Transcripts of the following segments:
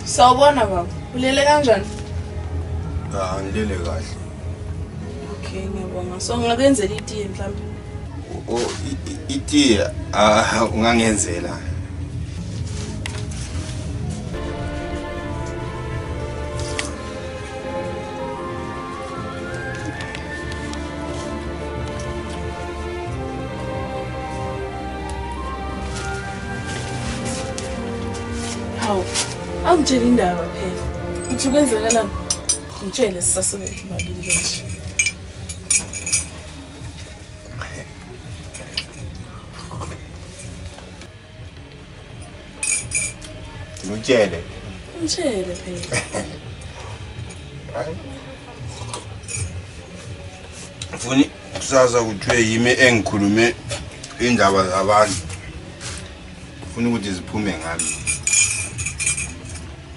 Sawubona baba. Ulele kanjani? Ah, ngilele kahle. Okay, ngiyabonga. So ngingakenzela itiye mhlawumbe. Oh, itiye ah ungangenzela. Hawu, awungitshela indaba phela. Uthi kwenzakalani? Ngitshele sisasebethu mabili nje. Ngitshele. Ngitshele phela. Funi kusasa kuthiwe yimi engikhulume indaba zabantu. Funa ukuthi ziphume ngami.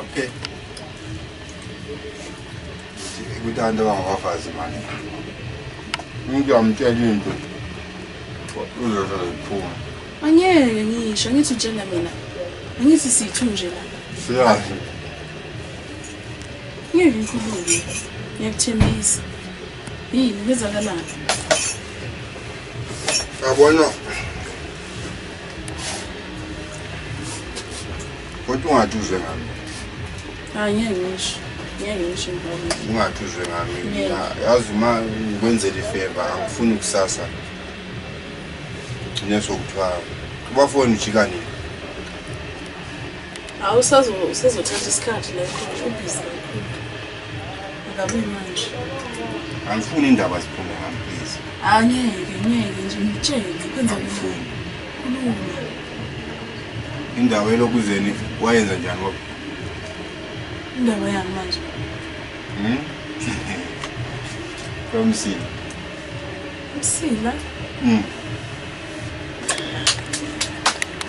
Okay. Ukuthi abantu abangabafazi manje. Umuntu uyamtshela into. Uzosho ziphuma. Angeke ngisho ngithi utshela mina. Angithi sithu nje la. Siyazi. Ngeke ngikhulume. Ngiyakuthembisa. Yini kwenzakalani? Yabona. Kodwa ungathi uzwe ngami. Hayi ngeke ngisho. Ngeke ngisho ngibona. Ungathi uzwe ngami. Yazi uma ukwenzela ifeva angifuni kusasa. Ngine sokuthiwa ubafoni ujika nini? Awusazo usezothatha isikhathi la khona ubhizi kakhulu. Ngabuyi manje. Angifuni indaba ziphume ngami please. Angeke, ngeke nje ngitshele kwenza ngifuni. Kulunga. Indaba elokuzeni wayenza njani wabo? Indaba yami manje. Mhm. Kwamsini. Msila. Mhm.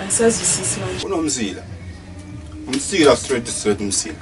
Angisazwisisi manje. Unomsila. Umsila straight straight umsila.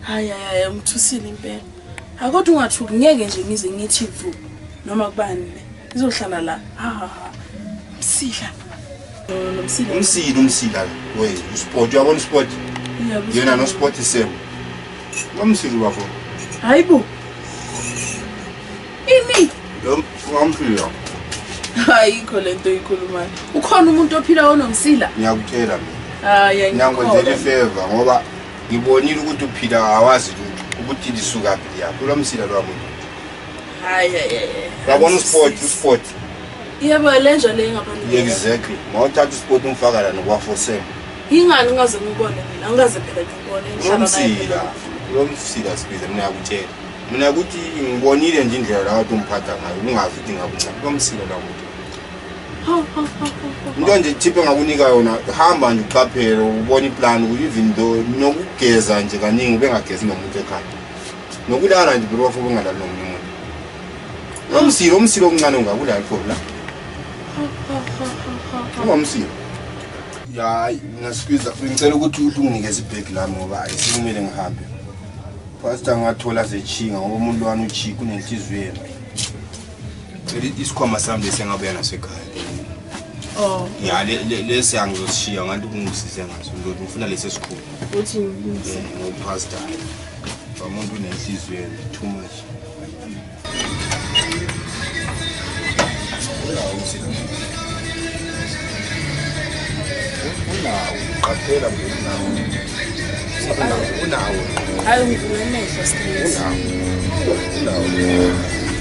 Hayi hayi umthusile impela. Akodwa ungathuki ngeke nje ngize ngithi vu noma kubani le. Izohlala la. Ha ha ha. Msila. Nomsila. Umsila umsila we usport uyabona usport. Yena no sport same. Ngomsila bafo. Hayibo. Imi. Lo ngomsila. Ayikho lento ikhulumayo. Ukhona umuntu ophila onomsila? Ngiyakutshela mina. Hayi ngiyakwenza ifeva ngoba Ngibonile ukuthi uphila awazi lutho ukuthi lisukaphi liya kulo msila lwabo lutho. Hayi hayi hayi. Babona usport usport. Yebo lenja le ngabantu. Exactly. Mawuthatha usport umfaka la nokwafosela. Ingani ngaze ngibone mina ngaze phela ngibone inhlaba. Umsila. Lo msila sibiza mina yakutshela. Mina ukuthi ngibonile nje indlela la wathi umphatha ngayo ungazi ukuthi ngakuncane. Lo msila la muntu. into nje tip engakunika yona hamba nje uqaphele ubona iplan ukuthi even though nokugeza nje kaningi ubengagezi nomuntu ekhaya nokulala nje bro wafuba ungalali nomunye umuntu nomsilo umsilo omncane ungakulali for la ungomsilo hayi ngasikiza ngicela ukuthi unginikeze ibhegi lami ngoba ayisekumele ngihambe pastor ngathola zechinga ngoba umuntu wani uchika unenhliziyo yena Cela isikhwama sami lesi engabuya naso ekhaya. Oh. Ya le lesi angizoshiya ngathi kungisize ngaso ndoda ngifuna lesi esikhulu. Uthi ngiyise. Ngo pastor. Bamuntu unenhliziyo too much. Unawo, qaphela nje unawo. Unawo. Hayi ngivule amehlo stress. Unawo. Unawo.